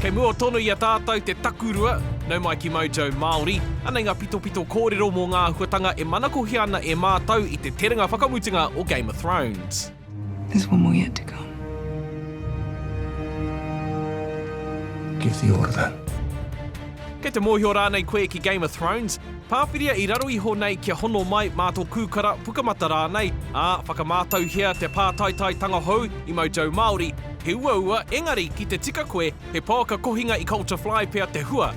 Kei mua tonu i a tātou te takurua, nau mai ki Mojo Māori. Anei ngā pitopito kōrero mō ngā āhuatanga e manakohia ana e mātou i te terenga whakamutunga o Game of Thrones. There's one more yet to come. Give the order. Kei te mōhio rānei koe ki Game of Thrones? Pāwhiria i raro iho nei kia hono mai mā tō kūkara, pukamata rānei, ā, whakamātauhia te pātaitaitanga hou i Mojo Māori, he uaua engari ki te tika koe he pouaka kohinga i Culture Fly pea te hua.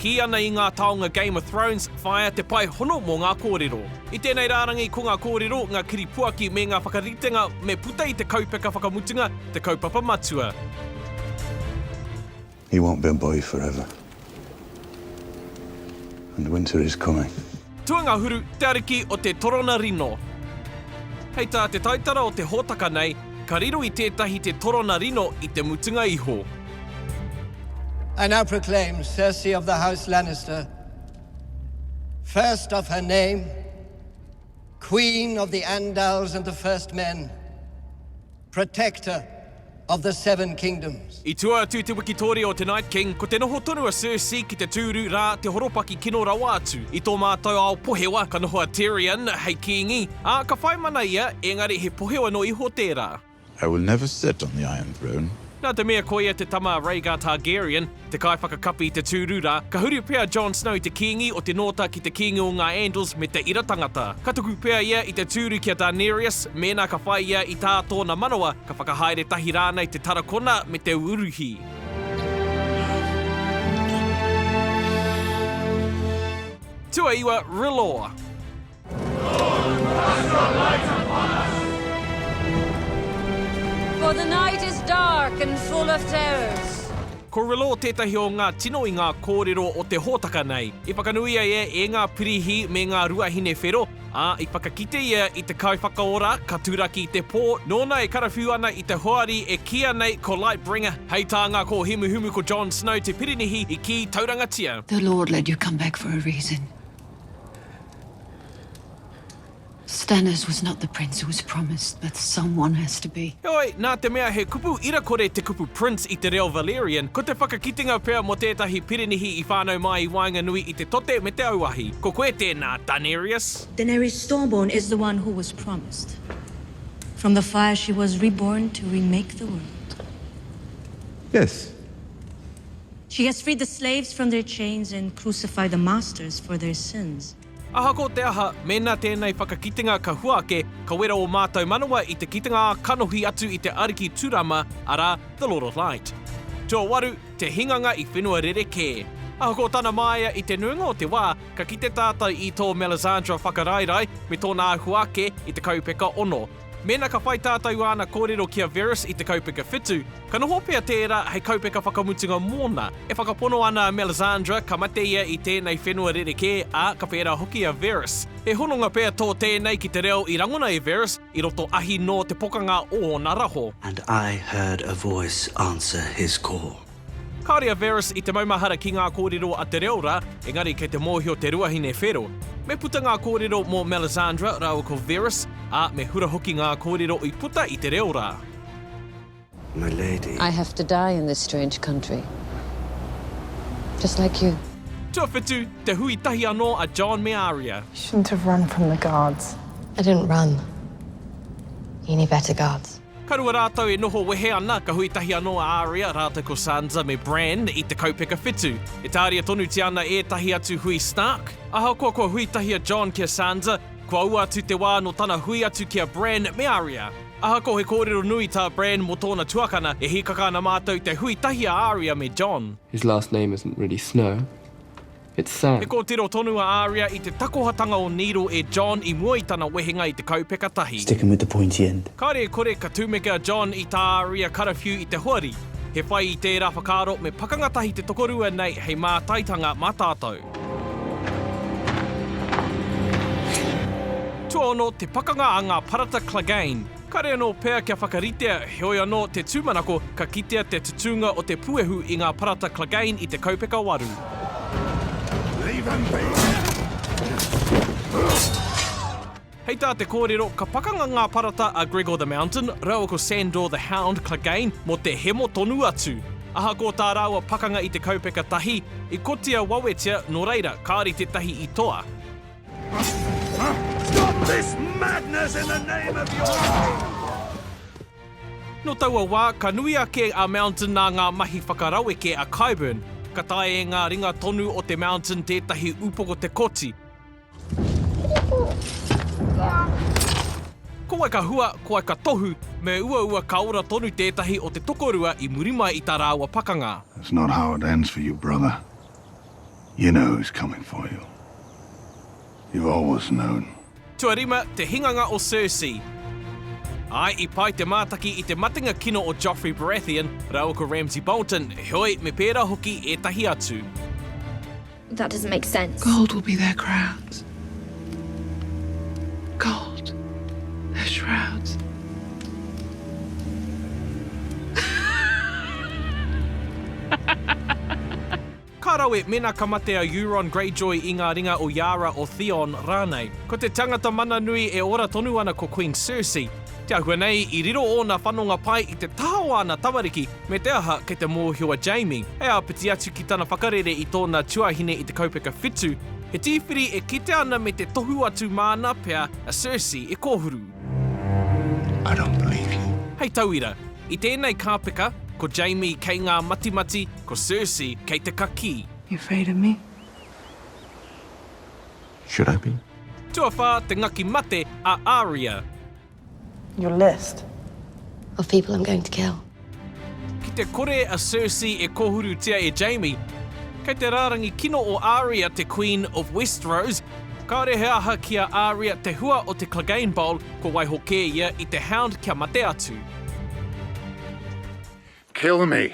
Kī ana i ngā taonga Game of Thrones, whāia te pae hono mō ngā kōrero. I tēnei rārangi ko ngā kōrero, ngā kiripuaki me ngā whakaritenga me puta i te kaupeka whakamutunga, te kaupapa matua. He won't be a boy forever. And winter is coming. Tuangahuru, te ariki o te torona rino. Hei tā te taitara o te hōtaka nei, ka riro i tētahi te torona rino i te mutunga iho. I now proclaim Cersei of the House Lannister, first of her name, Queen of the Andals and the First Men, Protector of the Seven Kingdoms. I tua atu te wikitoria o te Night King, ko te noho tonu a Cersei ki te tūru, rā, te horopaki kino rawa atu. I tō mātou ao pohewa, ka noho a Tyrion hei kīngi, ā, ka whai mana ia, ēngari he pohewa noa iho tērā. I will never sit on the Iron Throne. Nā te mea koia te tama a Rhaegar Targaryen, te kaiwhakakapi i te tūru rā, ka huri pea Jon Snow i te kīngi o te Nōta ki te kīngi o ngā Andals me te ira tangata. Ka tuku pea ia i te tūru ki a Daenerys, mēnā ka whai ia i tā tōna manawa, ka whakahaere tahi rānei te tarakona me te uruhi. Tuaiwa, R'hllor. For the night is dark and full of terrors. Ko Relo tētahi o ngā tino i ngā kōrero o te hōtaka nei. I whakanuia ia e ngā pirihi me ngā ruahine whero, ā, i whakakite ia i te kaiwhakaora ka turaki i te pō, nōna e karawhiu ana i te hoari e kīia nei ko Lightbringer. Hei tā ngā kōhimuhimu ko Jon Snow te pirinihi i kī taurangatia. The Lord let you come back for a reason. Stannis was not the prince who was promised, but someone has to be. Heoi, nā te mea he kupu ira kore te kupu prince i te reo Valyrian, ko te whakakitenga pea mō tētahi pirinihi i whānau mai i waenganui i te tote me te auahi. Ko koe tēnā, Danerius! Daenerys Stormborn is the one who was promised. From the fire she was reborn to remake the world. Yes. She has freed the slaves from their chains and crucified the masters for their sins. Ahako te aha, mēnā tēnei whakakitenga ka hua ake, ka wera ō mātou manawa i te kitenga ā kanohi atu i te Ariki Turama, arā, the Lord of Light. Tuawaru, te hinganga i whenua rerekē. Ahako tana māia i te nuinga o te wā, ka kite tātou i tō Melisandre whakaraerae me tōna āhua ake i te kaupeka ono, Mēnā ka whai tātou āna kōrero ki a Verus i te kaupeka whitu, ka noho pea tērā hei kaupeka whakamutunga mōna. E whakapono ana a Melisandre ka mate ia i tēnei whenua rerekē, ā, ka whērā hoki a Verus. He hononga pea tō tēnei ki te reo i rangona e Verus i roto ahi nō te pokanga o ōna raho. And I heard a voice answer his call. Kāore a Verus i te maumahara ki ngā kōrero a te reo rā, engari kei te mōhio te ruahine whero. Me puta ngā kōrero mō Melisandre rāua ko Verus, ā, me hura hoki ngā kōrero i puta i te reo rā. My lady. I have to die in this strange country. Just like you. Tuawhitu, te hui tahi anō a Jon me Arya. You shouldn't have run from the guards. I didn't run. You never had the guards. Ka rua rātou e noho wehe ana, ka hui tahi anō a Aria rātou ko Sansa me Bran i te kaupeka whitu. E tāria tonutia ana ētahi atu hui Stark. Ahakoa kua hui tahi a Jon ki a Sansa, kua ua atu te wā nō tana hui atu ki a Bran me Aria. Ahakoa he kōrero nui tā Bran mō tōna tuakana, e hīkaka ana mātou te hui tahi a Aria me Jon. His last name isn't really Snow. It's sad. He kōtiro tonu a Aria i te takohatanga o Needle e John i mua i tana wehenga i te kaupeka tahi. Stick 'em with the pointy end. Kāre e kore ka tumeke a John i tā Aria karawhiu i te hoari. He whai i tērā whakaaro me pakanga tahi te tokorua nei hei mātaitanga mā tātou. Tuaono te pakanga a ngā parata Clegane. Kare anō pea kia whakaritea, heoi anō, te tūmanako, ka kitea te tutūnga o te puehu i ngā parata Clegane i te kaupeka waru. Hei tā te kōrero, ka pakanga ngā parata a Gregor the Mountain raua ko Sandor the Hound Clegane mō te hemo tonu atu. Ahakoa tā rāua pakanga i te kaupeka tahi, i kotia wawetia, nō reira, kāore tētahi i toa. Stop this madness in the name of your No taua wā, ka nui ake a Mountain nā ngā mahi whakaraweke a Qyburn. Ka tae e ngā ringa tonu o te Mountain tētahi upoko te koti. Ko wai ka hua, ko wai ka tohu, me uaua ka ora tonu tētahi o te tokorua i muri mai i tā rāua pakanga. That's not how it ends for you, brother. You know who's coming for you. You've always known. Tuarima, te hinganga o Cersei. Āe, i pai te mātaki i te matenga kino o Joffrey Baratheon rāua ko Ramsay Bolton, heoi, me pērā hoki ētahi atu. That doesn't make sense. Gold will be their crowns. Gold, their shrouds. Ka rawe, mēnā ka mate a Euron Greyjoy i ngā ringa o Yara, o Theon rānei. Ko te tangata mana nui e ora tonu ana ko Queen Cersei. Te ahua nei, i riro ōna whanonga pai i te taha o āna tamariki, me te aha, kei te mōhio a Jaime, hei āpiti atu ki tana whakarere i tōna tuahine i te kaupeka whitu, he tīwhiri e kitea ana me te tohu atu māna pea a Cersei e kōhuru. I don't believe you. Hei tauira, i tēnei kāpeka, ko Jaime kei ngā matimati, ko Cersei kei te kakī. You afraid of me? Should I be? Tuawhā, te ngaki mate a Arya. Your list. Of people I'm going to kill. Ki te kore a Cersei e kōhurutia e Jaime, kei te rārangi kino o Arya te Queen of Westeros, kāore he aha ki a Arya te hua o te Clegane Bowl kua waiho kē ia i te Hound kia mate atu. Kill me.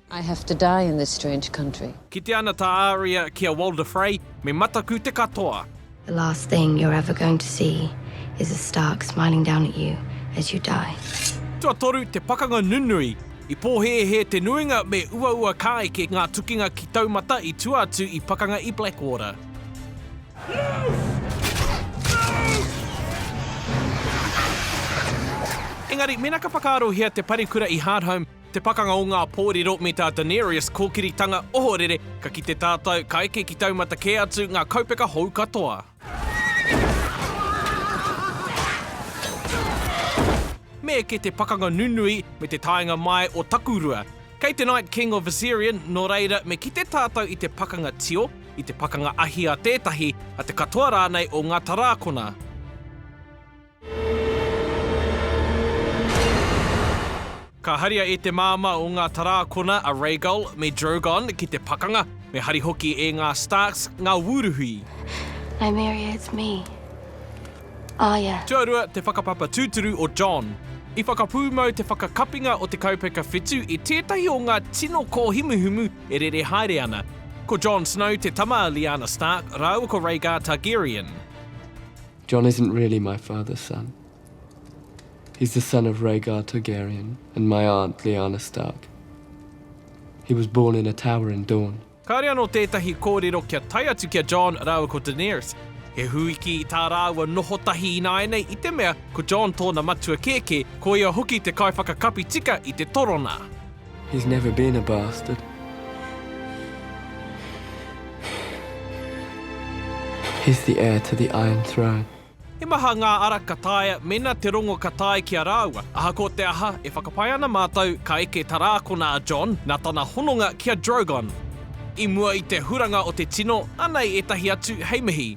I have to die in this strange country. Kite ana tā Aria ki a Walder Frey, me mataku te katoa. The last thing you're ever going to see is a Stark smiling down at you as you die. Tuatoru te pakanga nunui. I pōhēhē te nuinga me uaua kāeke ngā tukinga ki Taumata i tua atu i pakanga i Blackwater. Engari, mēnā ka whakaarohia te parekura i Hardhome, Te Pakanga o Ngā Pōrero me tā Danarius Kōkiritanga ohorere ka kite tātou ka eke ki taumata kē atu ngā kaupeka hou katoa. Me eke te pakanga nunui me te taenga mai o Takurua. Kei te Night King of Viserion, nō reira me kite tātou i te pakanga tio, i te pakanga ahi a tētahi, a te katoa rānei o ngā tarākona. Ka haria e te māmā o ngā tarākona a Rhaegal me Drogon ki te pakanga, me hari hoki e ngā Starks ngā wūruhi. I marry it's me. Arya. Tuarua te whakapapa tūturu o Jon. I whakapūmau te whakakapinga o te kaupeka whitu i tētahi o ngā tino kōhumuhumu e rere haere ana. Ko Jon Snow te tama a Lyanna Stark rāua ko Rhaegar Targaryen. Jon isn't really my father's son. He's the son of Rhaegar Targaryen and my aunt Lyanna Stark. He was born in a tower in Dorne. Kāore anō tētahi kōrero kia tae atu ki a Jon rāua ko Daenerys. He hūiki i tā rāua noho tahi ināianei i te mea ko Jon tōna matua kēkē, ko ia hoki te kaiwhakakapi tika i te torona. He's never been a bastard. He's the heir to the iron throne. He maha ngā ara ka taea mēnā te rongo ka tae ki a rāua. Ahakoa te aha, e whakapae ana mātou ka eke tarākona a Jon nā tana hononga ki a Drogon. I mua i te huranga o te tino, anei ētahi atu hei mihi.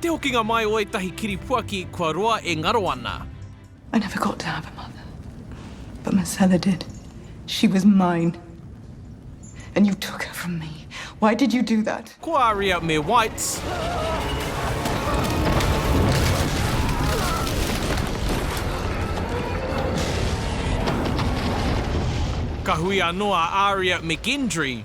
Te hokinga mai o ētahi kiripuaki kua roa e ngaro ana. I never got to have a mother, but Marcella did. She was mine. And you took her from me. Why did you do that? Ko Aria me Whites. Ka hui anō a Aria me Gendry.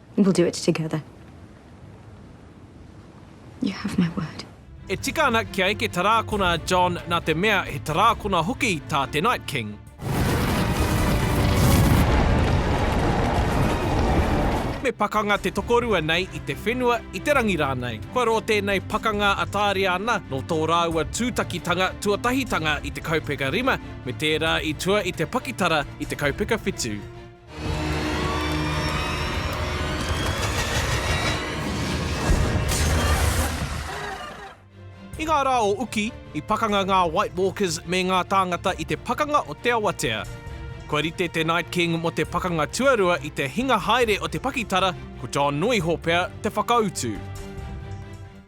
We'll do it together. You have my word. E tika ana kia eke tarākona a John nā te mea he tarākona hoki tā te Night King. Me pakanga te tokorua nei i te whenua, i te rangi rānei. Kua rō tēnei pakanga a Tāriana nō tō rāua tūtakitanga tuatahitanga i te kaupeka rima me tērā i tua i te pakitara i te kaupeka whitu. I ngā rā o uki, i pakanga ngā White Walkers me ngā tāngata i te pakanga o te awatea. Kua rite te Night King mō te Pakanga Tuarua i te hinga haere o te pakitara, ko John Nuiho pea te whakautu.